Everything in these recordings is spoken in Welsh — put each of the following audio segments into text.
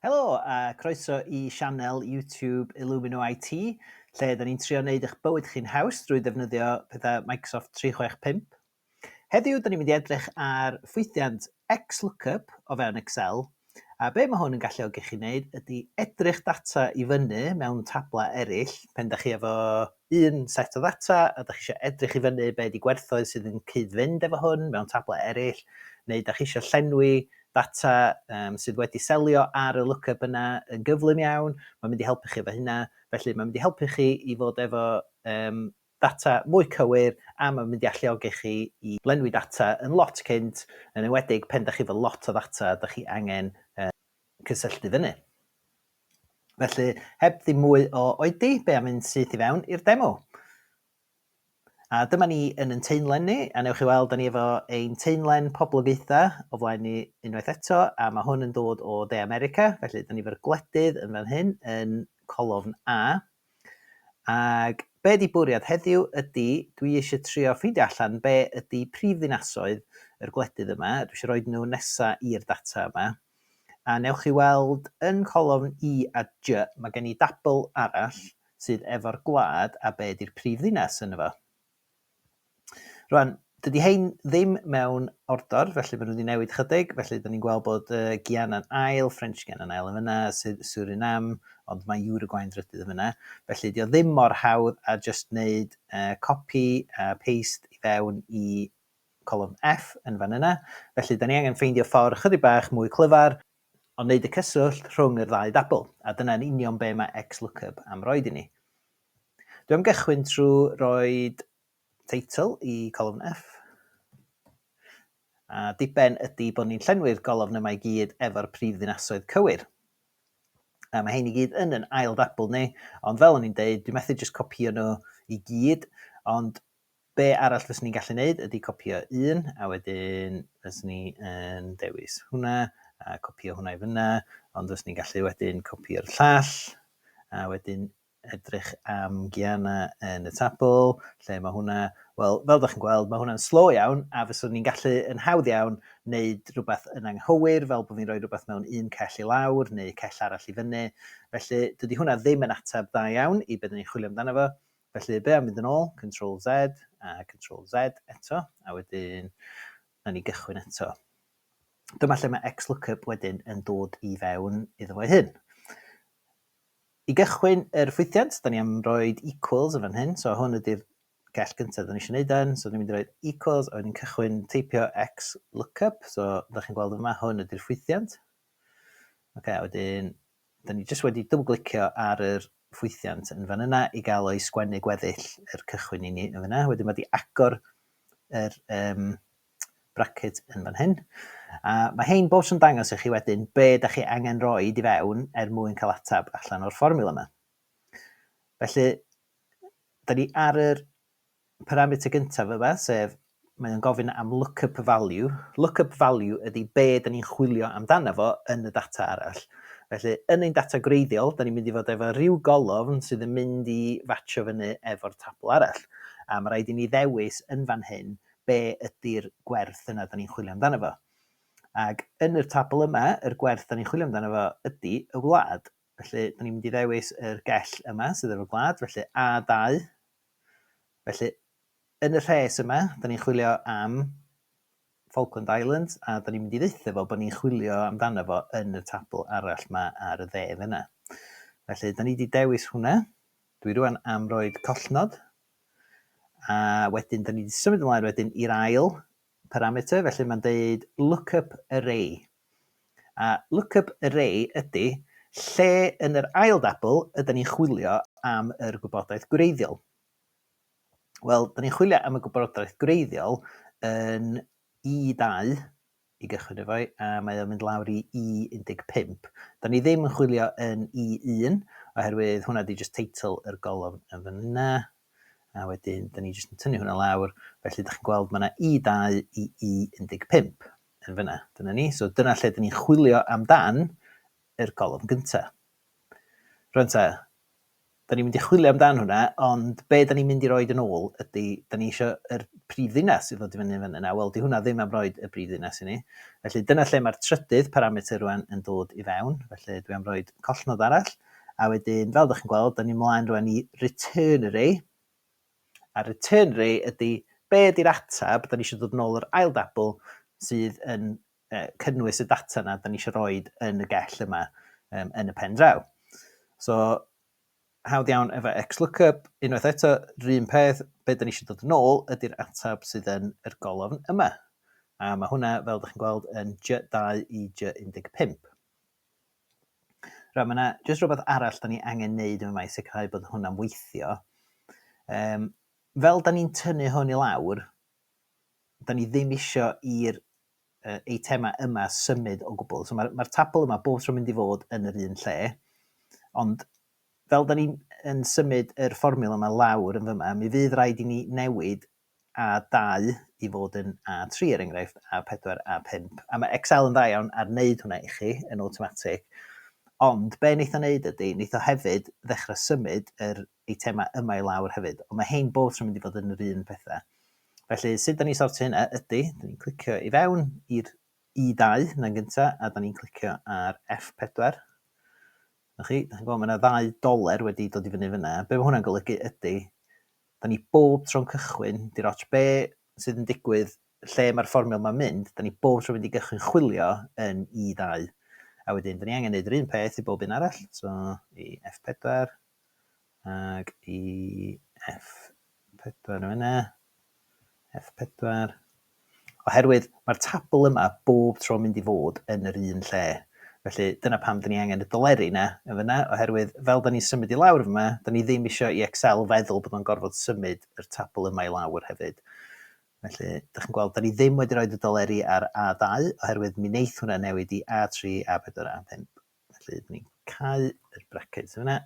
Helo a croeso i sianel YouTube Illumino IT, lle da ni'n trio wneud eich bywyd chi'n haws drwy ddefnyddio pethau Microsoft 365. Heddiw, da ni'n mynd i edrych ar ffwythiant XLOOKUP o fewn Excel, a be mae hwn yn galluogi chi wneud ydy edrych data i fyny mewn tablau eraill, pen da chi efo un set o ddata a dach chi isio edrych i fyny be ydi gwerthoedd sydd yn cyd-fynd efo hwn mewn table eraill, neu dach chi isio llenwi data um, sydd wedi selio ar y lookup yna yn gyflym iawn, mae'n mynd i helpu chi efo hynna. Felly mae'n mynd i helpu chi i fod efo um, data mwy cywir a mae'n mynd i alluogi chi i lenwi data yn lot cynt, yn enwedig pen da chi efo lot o ddata da chi angen uh, cysylltu fyny. Felly, heb ddim mwy o oedi, be am mynd syth i fewn i'r demo? A dyma ni yn yn teimlen ni, a newch chi weld, da ni efo ein teimlen poblogaethau o flaen ni unwaith eto, a mae hwn yn dod o De America, felly da ni efo'r gwledydd yn fan hyn, yn colofn A. Ac be ydi bwriad heddiw ydi dwi eisiau trio ffeindio allan be ydi prif ddinasoedd yr gwledydd yma, dwi eisiau rhoid nhw nesa i'r data yma, a newch chi weld yn colofn I a J mae gen i dabl arall sydd efo'r gwlad a be ydi'r prif ddinas ynddo fo. Rwan, dydy hein ddim mewn ordor, felly maen nhw wedi newid chydig, felly dyn ni'n gweld bod uh, Giana'n ail, French Giana'n ail yn fyna, Suriname, ond mae Uruguay'n drydydd yn fyna. Felly, dio ddim mor hawdd a just wneud uh, copy a paste i fewn i colofn F yn fan yna. Felly, da ni angen ffeindio ffordd chydig bach mwy clyfar o wneud y cyswllt rhwng yr ddau dabl, a dyna'n union be mae XLOOKUP am roed i ni. Dwi am gychwyn trwy roi teitl i colofn F. A diben ydy bod ni'n llenwi'r golofn yma i gyd efo'r prif ddinasoedd cywir. A mae hyn i gyd yn yn ail ddabl ni, ond fel o'n i'n deud, dwi methu jyst copio nhw i gyd, ond be arall fyswn ni'n gallu neud ydy copio un, a wedyn fyswn ni yn dewis hwnna, a copio hwnna i fyna, ond fyswn ni'n gallu wedyn copio'r llall, a wedyn edrych am Giana yn y tabl, lle mae hwnna? Wel, fel dach chi'n gweld, mae hwnna'n slo iawn, a fyswn ni'n gallu, yn hawdd iawn, wneud rhywbeth yn anghywir, fel bod fi'n rhoi rhywbeth mewn un cell i lawr, neu cell arall i fyny. Felly, dydy hwnna ddim yn ateb dda iawn i be dyn ni'n chwilio amdano fo. Felly, be am fynd yn ôl, Control Z, a Control Z eto, a wedyn, na ni gychwyn eto. Dyma lle mae XLOOKUP wedyn yn dod i fewn iddo fo ei hun. I gychwyn yr ffwythiant, da ni am roed equals yn fan hyn, so hwn ydy'r gell gyntaf da ni eisiau neud yn, so da ni'n mynd i roed equals, a wedyn cychwyn teipio x lookup, so da chi'n gweld yma, hwn ydy'r ffwythiant. Ok, a wedyn, da ni jyst wedi double glicio ar yr ffwythiant yn fan yna i gael o'i sgwennu gweddill yr cychwyn i ni yn fyna. Wedyn mae di agor yr um, bracket yn fan hyn. A mae hein bob tro'n dangos i chi wedyn be da chi angen roed i fewn er mwyn cael atab allan o'r fformiwla yma. Felly, da ni ar yr parameter gyntaf yma, sef mae o'n gofyn am lookup value. Lookup value ydy be da ni'n chwilio amdano fo yn y data arall. Felly, yn ein data gwreiddiol, da ni'n mynd i fod efo rhyw golofn sydd yn mynd i fatcho fyny efo'r tabl arall. A mae rhaid i ni ddewis yn fan hyn be ydy'r gwerth yna da ni'n chwilio amdano fo. Ac yn yr tabl yma, yr gwerth da ni'n chwilio amdano fo ydy y wlad. Felly, da ni'n mynd i ddewis yr gell yma sydd efo gwlad, felly A2. Felly, yn y rhes yma, da ni'n chwilio am Falkland Islands, a da ni'n mynd i ddeitha fo bod ni'n chwilio amdano fo yn y tabl arall yma ar y dde fyna. Felly, da ni wedi dewis hwnna. Dwi rwan am roed collnod A wedyn, da ni wedi symud ymlaen wedyn i'r ail parameter, felly mae'n deud lookup array. A lookup array ydy lle yn yr ail dabl ydyn ni'n chwilio am yr gwybodaeth gwreiddiol. Wel, da ni'n chwilio am y gwybodaeth gwreiddiol yn E2 i gychwyn efo hi, a mae o'n mynd lawr i E15. Da ni ddim yn chwilio yn E1, oherwydd hwnna di just teitl yr golofn yn fyna, a wedyn da ni just yn tynnu hwnna lawr, felly da chi'n gweld mae yna E2 i E15 yn fyna, dyna ni, so dyna lle da ni'n chwilio amdan yr golofn gyntaf. Rwy'n ta, Da ni'n mynd i chwilio amdan hwnna, ond be da ni'n mynd i roed yn ôl ydy, da ni eisiau yr prif ddinas i ddod i fyny fan yna. Wel, di hwnna ddim am roed y prif ddinas i ni. Felly dyna lle mae'r trydydd parameter rwan yn dod i fewn. Felly dwi am roed collnod arall. A wedyn, fel ydych chi'n gweld, da ni'n mlaen rwan i return array. A return array ydy, be ydy'r atab, da ni eisiau dod yn ôl yr ail dabl sydd yn cynnwys y data yna da ni eisiau rhoi yn y gell yma um, yn y pen draw. So, hawdd iawn efo XLOOKUP, unwaith eto, rhywun peth, be da ni eisiau dod yn ôl ydy'r atab sydd yn yr golofn yma. A mae hwnna, fel ydych chi'n gweld, yn J2 i J15. Rhaid, mae yna jyst rhywbeth arall da ni angen neud yma i sicrhau bod hwnna'n weithio. Um, fel da ni'n tynnu hwn i lawr, dan ni ddim isio i'r eitemau yma symud o gwbl. So mae'r, mae'r tabl yma bob tro mynd i fod yn yr un lle, ond fel da ni'n symud yr fformiwla yma lawr yn fyma, mi fydd rhaid i ni newid A2 i fod yn A3 er enghraifft, A4, A5. A mae Excel yn dda iawn ar wneud hwnna i chi yn awtomatig. Ond be wneith o wneud ydy, wneith o hefyd ddechrau symud yr eitemau yma i lawr hefyd, ond mae hein both yn mynd i fod yn yr un pethau. Felly, sut da ni'n sortio hynna ydy, da ni'n clicio i fewn i'r E2 na'n gyntaf, a da ni'n clicio ar F4. Ych chi, da chi'n gweld, mae yna ddau doler wedi dod i fyny fyna. Be mae hwnna'n golygu ydy, da ni bob tro'n cychwyn, di'r ots be sydd yn digwydd lle mae'r fformiol mae'n mynd, da ni bob tro mynd i gychwyn chwilio yn E2. A wedyn, da ni angen gwneud yr un peth i bob un arall, so i F4, Ag i F4 yna. F4. Oherwydd mae'r tabl yma bob tro mynd i fod yn yr un lle. Felly dyna pam dyn ni angen y doleri yna yn fyna, oherwydd fel dyn ni'n symud i lawr yma, dyn ni ddim eisiau i Excel feddwl bod o'n gorfod symud yr tabl yma i lawr hefyd. Felly, dych chi'n gweld, dyn ni ddim wedi rhoi y doleri ar A2, oherwydd mi wneith hwnna newid i A3, A4, A5. Felly, dyn ni'n cau yr braced sydd yna.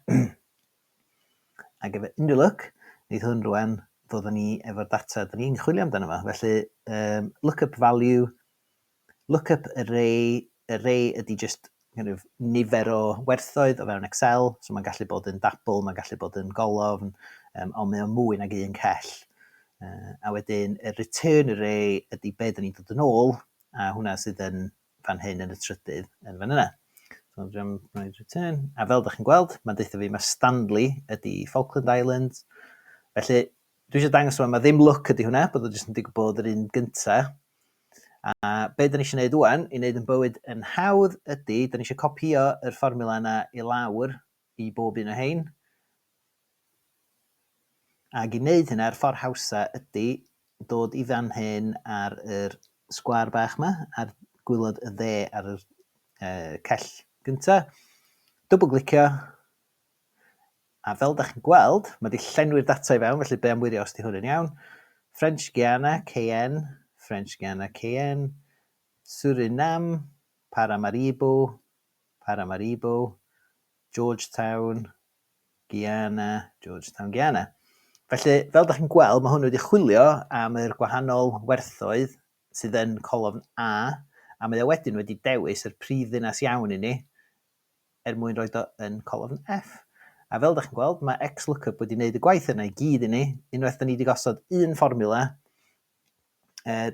Ac efo unrhyw look, wneud hwn rwan, ddod ni efo'r data dyn ni'n chwilio amdano fo. Felly, um, look up value, look up array, array ydy just kind of, nifer o werthoedd o fewn Excel, so mae'n gallu bod yn dabl, mae'n gallu bod yn golofn, um, ond mae o'n mwy nag un cell. Uh, a wedyn, y return array ydy be dyn ni'n dod yn ôl, a hwnna sydd yn fan hyn yn y trydydd yn fan yna. Return. A fel ydych chi'n gweld, mae'n deutha fi mae Stanley ydy Falkland Islands. Felly, dwi eisiau dangos yma, mae ddim look ydy hwnna, bod o jyst yn digwydd bod yr un gynta. A be dyn ni eisiau gwneud wwan, i wneud yn bywyd yn hawdd ydy, dyn ni eisiau copio yr fformula yna i lawr i bob un o rhein. Ac i wneud hynna, yr ffordd hawsa ydy dod i fan hyn ar yr sgwâr bach yma, ar gwylod y dde ar yr uh, cell gyntaf, dwbl glicio, a fel da chi'n gweld, mae wedi llenwi'r data i fewn, felly be am wirio os di hwn yn iawn. French Guiana, KN, French Guiana, KN, Suriname, Paramaribo, Paramaribo, Georgetown, Guyana, Georgetown, Guyana. Felly, fel da chi'n gweld, mae hwn wedi chwilio am yr gwahanol werthoedd sydd yn colofn A, a mae o wedyn wedi dewis yr prif ddinas iawn i ni, er mwyn rhoi do yn colofn F. A fel da chi'n gweld, mae XLOOKUP wedi wneud y gwaith yna i gyd i ni, unwaith da ni wedi gosod un fformula,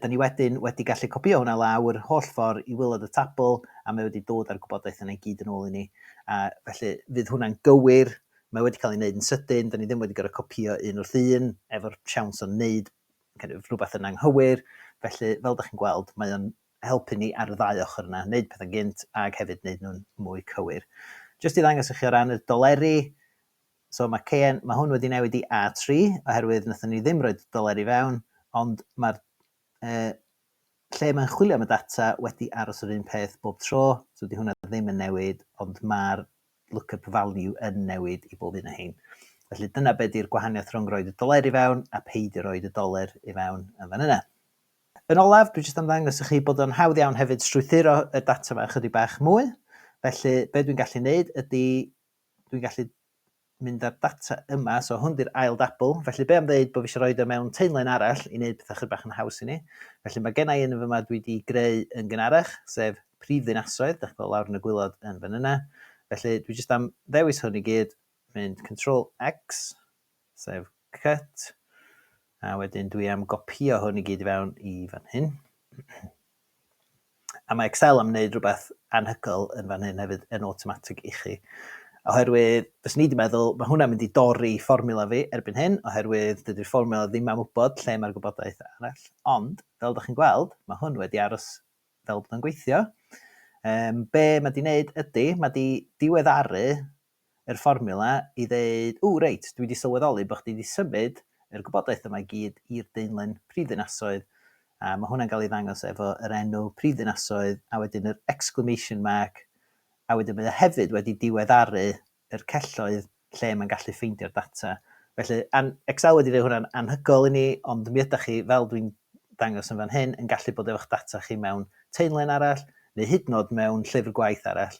Da ni wedyn wedi gallu copïo hwnna lawr yr holl ffordd i waelod y tabl, a mae wedi dod â'r gwybodaeth yna i gyd yn ôl i ni. A felly, fydd hwnna'n gywir, mae wedi cael ei wneud yn sydyn, da ni ddim wedi gorfod copïo un wrth un, efo'r siawns o wneud kind of rhywbeth yn anghywir. Felly, fel da chi'n gweld, mae o'n helpu ni ar y ddau ochr yna, wneud pethau'n gynt ac hefyd wneud nhw'n mwy cywir. Jyst i ddangos i chi o ran y doleri, So mae kn, mae hwn wedi newid i A3 oherwydd wnaethon ni ddim rhoi doler i fewn, ond mae'r uh, lle mae'n chwilio am y data wedi aros yr un peth bob tro, so di hwnna ddim yn newid, ond mae'r lookup value yn newid i bob un o hyn. Felly dyna beth di'r gwahaniaeth rhwng rhoi y doler i fewn a peidio rhoi y doler i fewn yn fan yna. Yn olaf, dwi jyst am ddangos i chi bod o'n hawdd iawn hefyd strwythuro y data yma ychydig bach mwy. Felly, be dwi'n gallu neud ydy dwi'n gallu mynd â'r data yma, so hwn di'r ail dabl, felly be am ddeud bod fi eisiau rhoi o mewn teunlen arall i wneud pethau chydig bach yn haws i ni. Felly mae gennau un yn fyma dwi wedi greu yn gynharach, sef prif ddinasoedd, dach chi'n lawr yn y gwylod yn fan yna. Felly dwi jyst am ddewis hwn i gyd, mynd Control X, sef cut, a wedyn dwi am gopio hwn i gyd i fewn i fan hyn. A mae Excel am wneud rhywbeth anhygoel yn fan hyn hefyd yn awtomatig i chi. Oherwydd, fyswn i wedi meddwl, mae hwnna'n mynd i dorri fformiwla fi erbyn hyn, oherwydd dydy'r fformiwla ddim am wybod lle mae'r gwybodaeth arall. Ond, fel ydych chi'n gweld, mae hwn wedi aros fel bod yn gweithio. Um, be mae di wneud ydy, mae di diweddaru yr fformiwla i ddeud, ww reit, dwi 'di sylweddoli bo' chdi 'di symud yr gwybodaeth yma i gyd i'r daenlen prifddinasoedd, a ma' hwnna'n ga'l ei ddangos efo yr enw prifddinasoedd a wedyn yr exclamation mark, a wedyn mae o hefyd wedi diweddaru yr celloedd lle mae'n gallu ffeindio'r data. Felly, an- Excel wedi neud hwnna'n anhygoel i ni, ond mi ydach chi, fel dwi'n dangos yn fan hyn, yn gallu bod efo'ch data chi mewn taenlen arall, neu hyd yn o'd mewn llyfr gwaith arall,